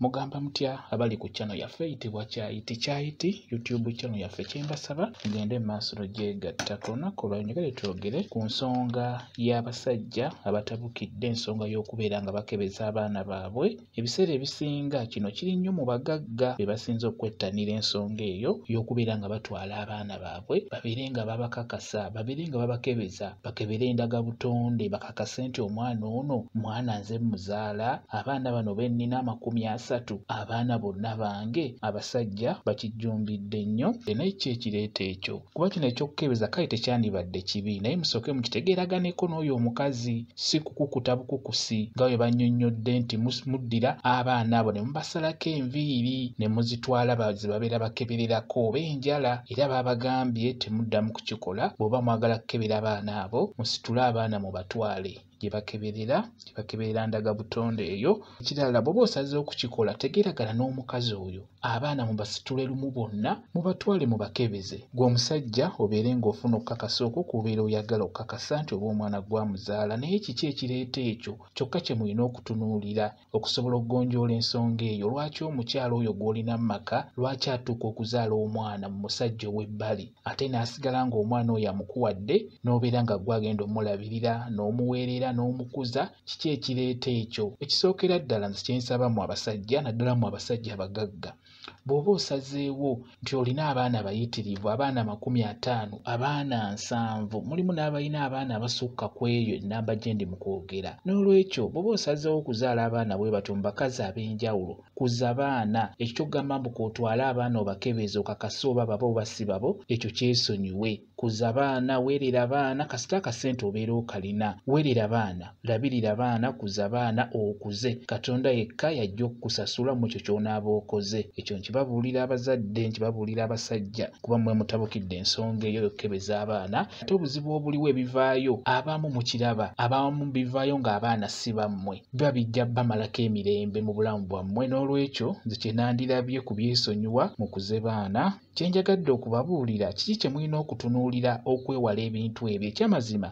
mugamba mutya abali ku channel yaffe eyitibwa kyayiti kyayiti youtube channel yaffe kyembasaba mugende mu maaso logyegatta ku lunaku olwayo njagale twogere ku nsonga y'abasajja abatabukidde ensonga y'okubeera nga bakebeza abaana baabwe ebiseera ebisinga kino kiri nnyo mu bagagga be basinze okwettanira ensonga eyo y'okubeera nga batwala abaana baabwe babeere nga babakakasa babeere nga babakebeza bakebere endaga butonde akasente omwana ono mwana nze muzaala abaana bano bennina amakumi asatu abaana bonna bange abasajja bakijjumbidde nnyo ena ekyo ekireeta ekyo kuba kino ekyokukebeza kale tekyandibadde kibi naye musooke mukitegeeraganeko n'oyo omukazi si kukukuta bukukusi nga bwe bannyonnyodde nti muddira abaana abo ne mubasalako enviiri ne muzitwala bazibabeera bakebererako oba enjala era baabagambye temuddamu kukikola bw'oba mwagala kukebera abaana abo musitule abaana mu batwale gye bakeberera gye bakeberera ndaga butonde eyo ekirala bw'oba osazeewo okukikola tegeragana n'omukazi oyo abaana mu basitule lumu bonna mu batwale mu bakebeze gwe omusajja obeere ng'ofuna okukakasa okwo kubeera oyagala okukakasa nti oba omwana gwamuzaala naye kiki ekireeta ekyo kyokka kye mulina okutunuulira okusobola okugonjoola ensonga eyo lwaki omukyala oyo gw'olina mu maka lwaki atuuka okuzaala omwana mu musajja ow'ebbali ate n'asigala ng'omwana oyo amukuwadde n'obeera nga gwe agenda omulabirira n'omuweerera n'omukuza kiki ekireeta ekyo ekisookera ddala nze kyensaba mu abasajja naddala mu abasajja abagagga bw'oba osazeewo nti olina abaana abayitirivu abaana amakumi ataano abaana nsanvu mulimu n'abalina abaana abasukka ku eyo ennamba gye ndi mu kwogera n'olwekyo bw'oba osazeewo okuzaala abaana bwe batyo mu bakazi ab'enjawulo kuza baana ekyo kyokugamba mbu kwotwala abaana obakebeeza okakase oba babo oba si babo ekyo kyesonyiwe kuza baana weerera baana kasita akasente obeera okalina weerera baana labirira baana kuza baana okuze katonda yekka yajja okukusasula mu ekyo ky'onaaba okoze ekyo nkibabuulira abazadde nkibabuulira abasajja kuba mwe mutabukidde ensonga eyo yokukebeza abaana ate obuzibu obuliwo ebivaayo abamu mukiraba abamu bivaayo ng'abaana si bammwe biba bijja bamalako emirembe mu bulamu bwammwe n'olwekyo nze kye nandirabye ku byesonyiwa mukuze baana Kye njagadde okubabuulira kiki kye mulina okutunuulira okwewala ebintu ebyo. Eky'amazima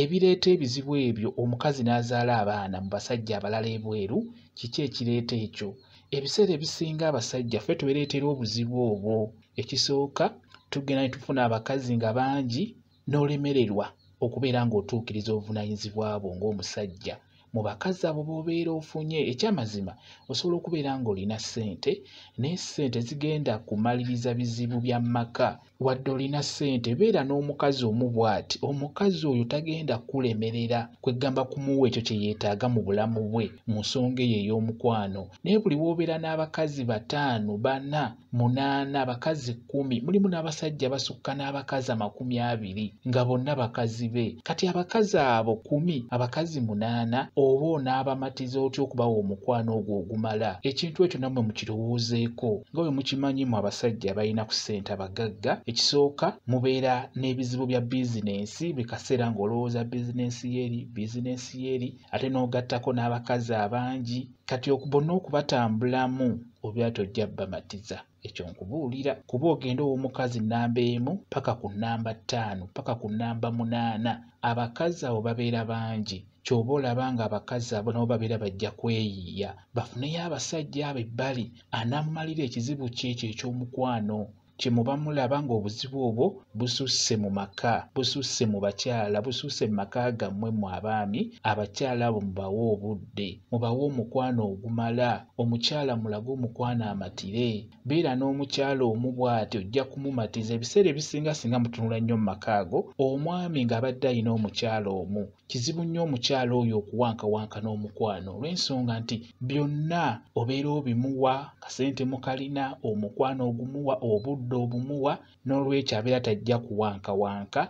ebireeta ebizibu ebyo omukazi n'azaala abaana mu basajja abalala ebweru, kiki ekireeta ekyo? Ebiseera ebisinga abasajja ffe twereetera obuzibu obwo. Ekisooka tugenda ne tufuna abakazi nga bangi n'olemererwa okubeera ng'otuukiriza obuvunaanyizibwa bwo ng'omusajja mu bakazi abo b'obeera ofunye ekyamazima osobola okubeera ng'olina ssente naye ssente zigenda kumaliriza bizibu bya maka wadde olina ssente beera n'omukazi omu bw'ati omukazi oyo tagenda kukulemerera kweggamba kumuwa ekyo kye yeetaaga mu bulamu bwe mu nsonga eyo ey'omukwano naye buli w'obeera n'abakazi bataano bana munaana abakazi kkumi mulimu n'abasajja basukka n'abakazi amakumi abiri nga bonna bakazi be kati abakazi abo kumi abakazi munaana oba onaabamatiza otya okubawa omukwano ogwo ogumala ekintu ekyo nammwe mukirowoozeeko nga bwe mukimanyi mu abasajja balina ku ssente abagagga ekisooka mubeera n'ebizibu bya bizinensi buli kaseera ng'olowooza bizinensi yeeri bizinensi yeeri ate n'ogattako n'abakazi abangi kati bonna okubatambulamu obya tojja bamatiza ekyo nkubuulira kuba ogenda ow'omukazi nnamba emu paka ku nnamba ttaano paka ku nnamba munaana abakazi abo babeera bangi kyoba olaba nga abakazi abo nabo babeera bajja kweyiiya bafuneyo abasajja abo ebbali anammalira ekizibu kyekyo eky'omukwano kye muba mulaba ng'obuzibu obwo bususse mu maka bususse mu bakyala bususse mu maka gammwe mu abaami abakyala abo mubawe obudde mubawe omukwano ogumala omukyala mulage omukwano amatire beera n'omukyala omu bw'ati ojja kumumatiza ebiseera ebisinga singa mutunula nnyo mu maka ago omwami ng'abadde alina omukyala omu kizibu nnyo omukyala oyo okuwankawanka n'omukwano olw'ensonga nti byonna obeera obimuwa kasente mukalina omukwano ogumuwa obudde obumuwa n'olwekyo abeera tajja kuwankawanka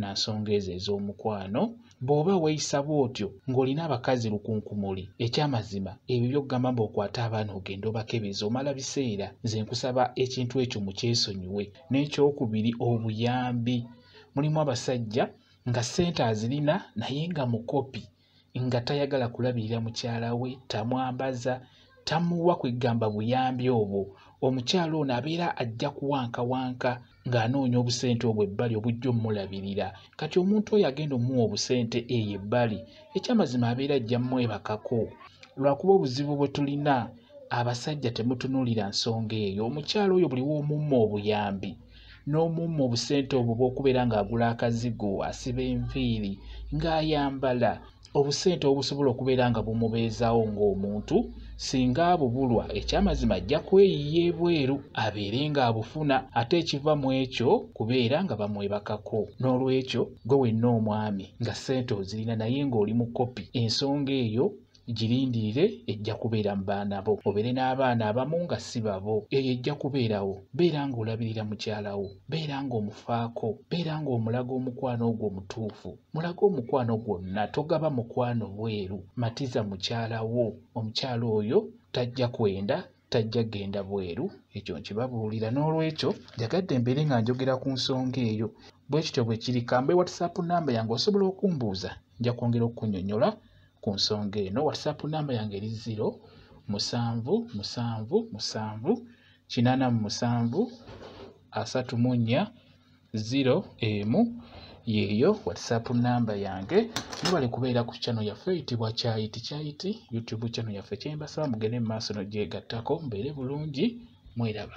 na nsonga ezo ez'omukwano bw'oba weeyisa bw'otyo ng'olina abakazi lukunkumuli ekyamazima ebyo byokugamba mbu okwate abaana ogenda obakebeza omala biseera nze nkusaba ekintu ekyo mukyesonyiwe n'ekyokubiri obuyambi mulimu abasajja nga ssente azirina naye nga mukopi nga tayagala kulabirira mukyala we tamwambaza tamuwa kwegamba buyambi obwo omukyala ono abeera ajja kuwankawanka ng'anoonya obusente obwo ebbali obujja omulabirira kati omuntu oyo agenda omuwa obusente eyo ebbali ekyamazima abeera ajja mwebakako lwakuba obuzibu bwe tulina abasajja temutunuulira nsonga eyo omukyala oyo buli w'omumma obuyambi n'omumma obusente obwo bw'okubeera ng'agula akazigo asiba enviiri ng'ayambala obusente obusobola okubeera nga bumubeezawo ng'omuntu singa abubulwa ekyamazima ajja kweyiya ebweru abeere ng'abufuna ate ekiva mu ekyo kubeera nga bamwebakako n'olwekyo gwe wenna omwami nga ssente ozirina naye ng'oli mukopi ensonga eyo girindirire ejja kubeera mu baana bo obeere n'abaana abamu nga si babo eyo ejja kubeerawo beera ng'olabirira mukyala wo beera ng'omufaako beera ng'omulaga omukwano ogwo omutuufu mulage omukwano gwonna togaba mukwano bweru matiza mukyala wo omukyala oyo tajja kwenda tajja genda bweru ekyo nkibabuulira n'olwekyo njagadde mbeere nga njogera ku nsonga eyo bwe kityo bwe kiri kambe whatsapp namba yange osobola okumbuuza nja kwongera okukunyonyola ku nsonga eno whatsapp namba yange eri ziro musanvu musanvu musanvu kinaana mu musanvu asatu mu nnya zero emu yeeyo whatsapp namba yange mubale kubeera ku kyano yaffe eyitibwa kyayiti kyayiti youtube kyano yaffe kyembasaba mugende mu maaso nogyegattako mbeere bulungi mweraba